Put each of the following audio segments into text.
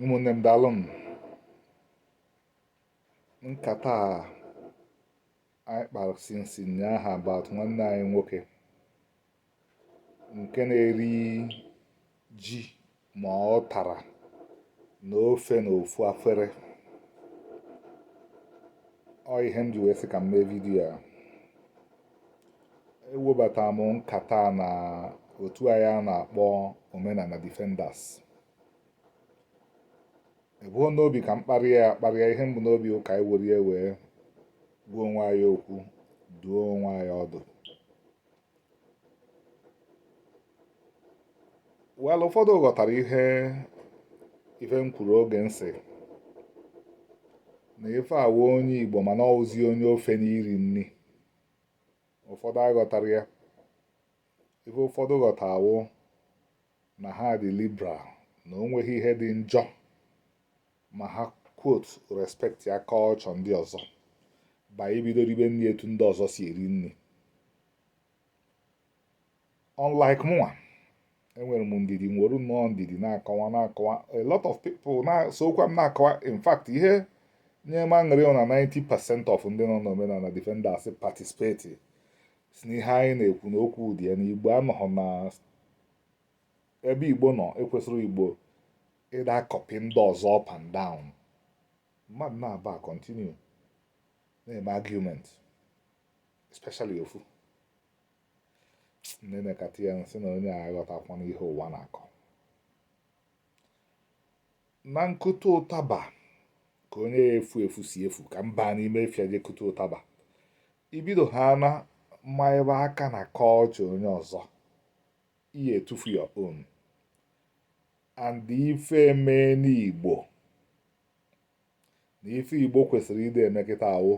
ụmụnne m daalụ m nkata a anyị kpara since nyaahụ about nwanne anyị nwoke nke na-eri ji ma ụtara na ofe na ofu afere ọ ihe m ji wee sị ka m mee vidiyo a ewebata m nkata na otu anyị a na-akpọ omenala defenders ebuho n'obi ka m kparịa ya akparịa ihe m bu n'obi wụ ka anyị were ya wee gwa onwe anyị okwu dụọ onwe anyị ọdụ well ụfọdụ ghọtara ihe ife m kwuru oge m sị na ife a wụ onye igbo mana ọ wụzi onye ofe n'iri nri ụfọdụ aghọtarọ ya ife ụfọdụ ghọta wụ na ha dị liberal na o nweghị ihe dị njọ ma ha quote respectia culture ndị ọzọ by ibido ribe nri etu ndị ọzọ si eri nri unlike mụnwa enwere m ndidi nwere nnọọ ndidi na-akọwa na-akọwa a lot of people na-esokwa m na-akọwa in fact ihe nye m aṅụrị na 90 percent of ndị nọ n'omenala defenders participate sị na ihe anyị na-ekwu na okwu dị ya na igbo anọghị na ebe igbo nọ ekwesirọ igbo ịdị akọpị ndị ọzọ up and down mmadụ naabọ continue na-eme argument especially ofu m nekata ya m sị na onye a aghọtakwana ihe ụwa na-akọ na nkụta ụtaba ka onye ya-efu efu si efu ka m ba n'ime ọfịa je kụta ụtaba ibido ha na manyebe aka na culture onye ọzọ ị ya-etufu your own and ife mee n'igbo na ife igbo kwesịrị ịdị eme kịta wụ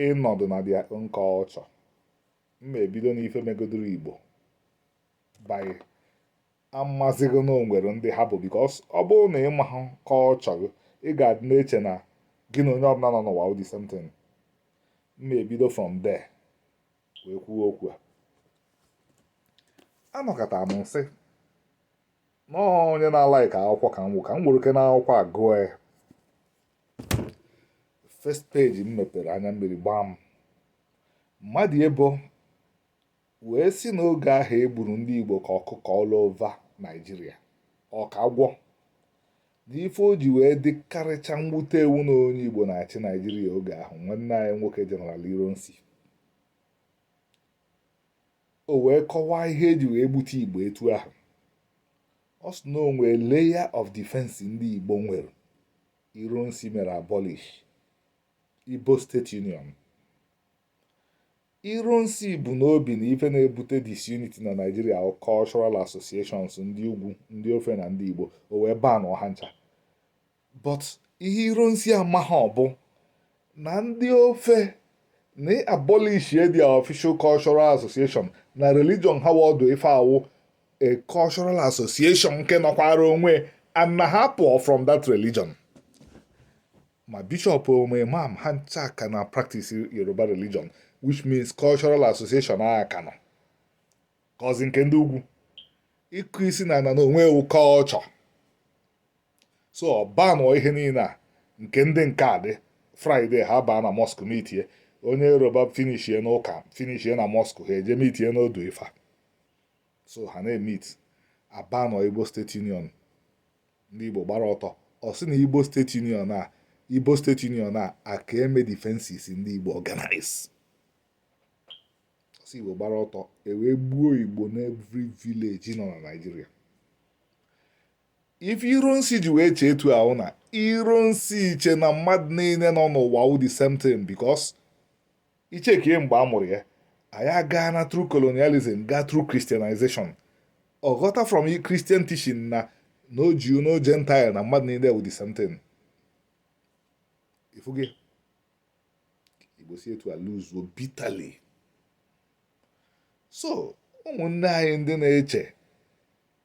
ịnọdụ na their own culture mma ebido na ife megodoro igbo bụ amazighị na o nwere ndị ha bụ because ọ bụrụ na ị maha culture ị ga-adị na-eche na gị na onye ọbụla nọ n'ụwa wụ the same thing mma ebido from there wee kwuo okwu a anọkata m sị na ọ onye na-alaik akwụkwọ ka m ka m were na akwụkwọ a gụọ ya first page m mepere anya mmiri gbaa m Madiebo wee sị na oge ahụ e gburu ndị Igbo ka ọkụkọ all over Naịjirịa ọka gwọ n'ife o ji wee dịkarịcha mwute wụ na onye Igbo na-achị Naịjirịa oge ahụ nwanne anyị nwoke Jeneral Ironsi o wee kọwaa ihe e ji wee gbute igbo etu ahụ ọ sị na o nwee layer of defense ndị igbo nwere Ironsi mere abolish Igbo State Union Ironsi bu n'obi na ife na-ebute disunity na Nigeria cultural associations ndị ugwu ndị ofe na ndị Igbo o wee banụọ ha ncha but ihe Ironsi amahọ bụ na ndị ofe na abolish their official cultural association na religion ha wụ odu ifa wụ a cultural association nke nọkwara onwe and na ha pụọ from that religion ma bishop o ma imam ha ncha ka na-practice yoruba religion which means cultural association a ka nọ ka nke ndị ugwu ịkụ isi n'ana n'onwe ya wụ culture so ọ banụọ ihe niile a nke ndị nke a dị Friday ha baa na mosque meetie onye yoruba finishie n'ụka finishie na mosque ha eje meetie n'odu ifa so ha na-emeet a banụọ Igbo State Union ndị igbo gbara ọtọ ọ sị na Igbo State Union a Igbo State Union a a ka-eme defenses ndị igbo organize ọ sị igbo gbara ọtọ e wee gbuo igbo n'every village nọ na Nigeria ife Ironsi ji wee chee etu ahụ na Ironsi chee na mmadụ niile nọ n'ụwa wụ the same thing because i chee kee mgbe a mụrụ ya anyị agaa na through colonialism gaa through christianization ọ ghọta from christian teaching na no Jew no Gentile na mmadụ niile wụ the same thing ị fụgo igbo si etu a luzuo bitterly so ụmụnne anyị ndị na-eche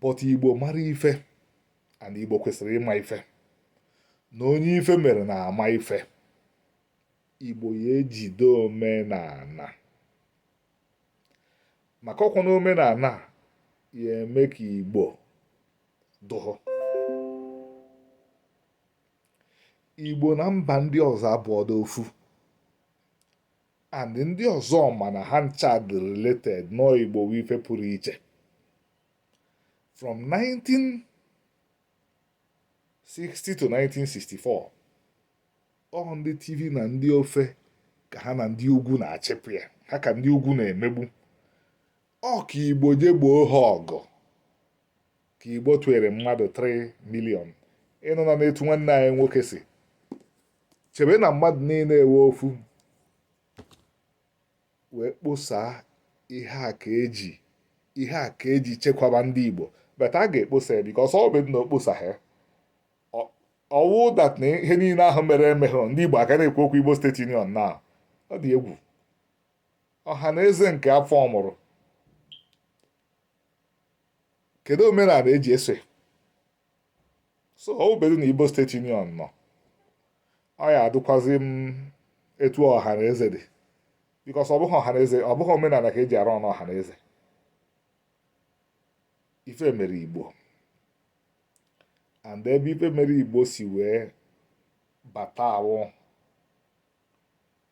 but igbo mara ife and igbo kwesịrị ịma ife na onye ife mere na-ama ife igbo ya-ejide omenala maka ọ kwanụ omenala ya-eme ka igbo dụhụ igbo na mba ndị ọzọ abụọdo ofu and ndị ọzọ mana ha ncha dị related nọọ igbo wụ ife pụrụ iche from 1960 to 1964 ọ ndị Tiv na ndị ofe ka ha na ndị ugwu na-achịpụ ya ha ka ndị ugwu na-emegbu ọ ka igbo je gboo ha ọgụ ka Igbo tụere mmadụ 3 million ịnụ na n'etu nwanne anyị nwoke si chebe na mmadụ niile ewe ofu wee kposaa ihe a ka e ji chekwaba ndị Igbo but a ga-ekposa ya because ọ bụ na o kposaha ọ wụ that na ihe niile ahụ mere emehụ ndị Igbo a ka na-ekwu okwu Igbo State Union na ọ dị egwu ọha na eze nke afọ ọmụrụ kedu omenala eji eso so ọ bụdu na Igbo State Union nọ ọ ya adụkwazi etu ọha na eze dị because ọ bụghị ọha na eze ọ bụghị omenala ka eji arụ ọnụ ọha na eze ife mere Igbo and ebe ife mere Igbo si wee bata awụ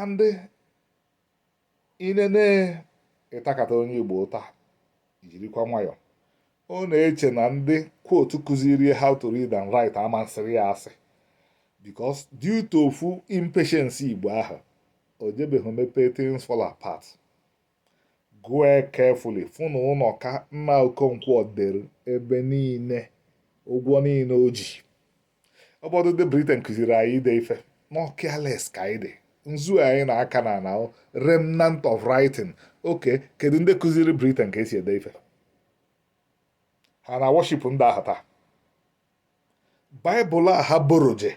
and i nenee ị takata onye Igbo ụta jirikwa nwayọ ọ na-eche na ndị quote kụzirie how to read and write ama asịrị ya asị because due to ofu impatience Igbo ahụ o jebeghị mepee Things Fall Apart Gụọ carefully fụ na Unoka nna Okonkwo dere ebe niile ụgwọ niile o ji. Ọ bụdụ ndị Britain kụziri anyị ide ife nọ careless ka anyị dị nzu anyị na-aka na na remnant of writing okay kedu ndị kụziri Britain ka e si ede ife ha na worship ndị ahụ taa baịbụl a ha buru je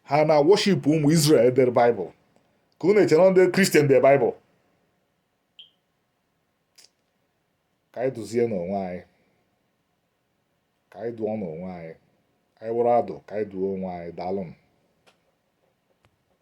ha na worship ụmụ Israel dere baịbụl ka unu chere ndị Christian de baịbụl ka anyị duzienụ onwe anyị ka anyị dụọnụ onwe anyị anyị wụrụ adụ ka anyị duo onwe anyị daalụnụ